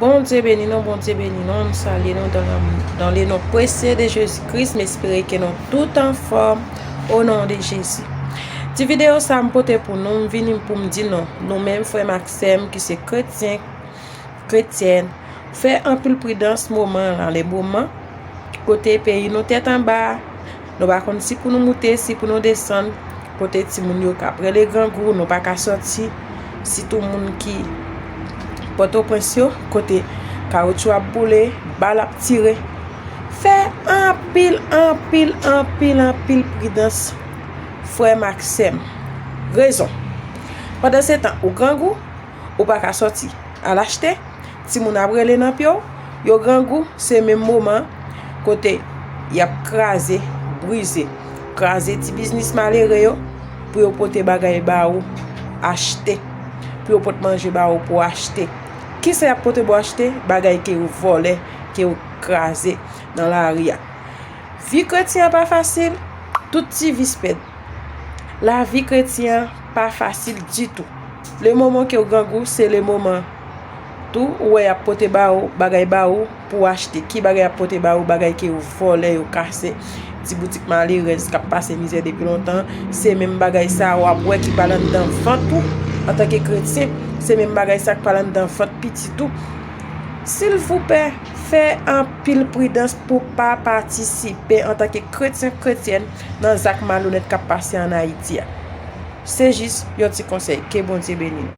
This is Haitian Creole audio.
Bondye beni nou Bondye beni nou m salye nou dan le non presye de jezi kris m espere ke nou tout anfòm o non de jezi ti video sa m pote pou nou m vini pou m di nou nou menm frè m ak sè m ki se kretyen kretyèn fè anpil pridans moman la le moman kote peyi nou tèt anba Nou pa konn si pou nou moute, si pou nou desann, kote timoun yo kap rele grangou, nou pa ka sòti, sitou moun ki Pòtoprens yo, kote kawoutchou ap boule, bal ap tire. Fè anpil, anpil, anpil, anpil pridans, frè m ak sè m. Rezon. Pandansetan, ou grangou. Ou pa ka sòti. Al achte. Timoun ap rele nan pye w. Yo grangou. Se menm moman kote y ap kraze, brize. Kraze ti biznis malere yo pou yo pote bagay ba ou achte. Pou yo pote manje ba ou pou achte. Ki sa y ap pote pou achte? Bagay ke yo vòlè, ke yo kraze nan lari a. Vi kretyen pa fasil. Tout ti vis pèdi. Lavi kretyen pa fasil ditou. Le moman kew grangou se le moman Tou ou wè yap pote ba ou bagay ba ou pouw achte ki bagay yap pote ba ou bagay ke yo vòlè yo kase ti boutik malerèz kap pase mizè depi lontan se menm bagay sa wap wè ki pral anndan vant ou antanke kretyen se menm bagay sa ki pral anndan vant pitit ou silvoupè fè anpil pridans pou pa patisipe antanke kretyen kretyèn. nan zak malonèt kap pase an Ayiti a. Se jis yon ti konsèy. Ke Bondye beni nou.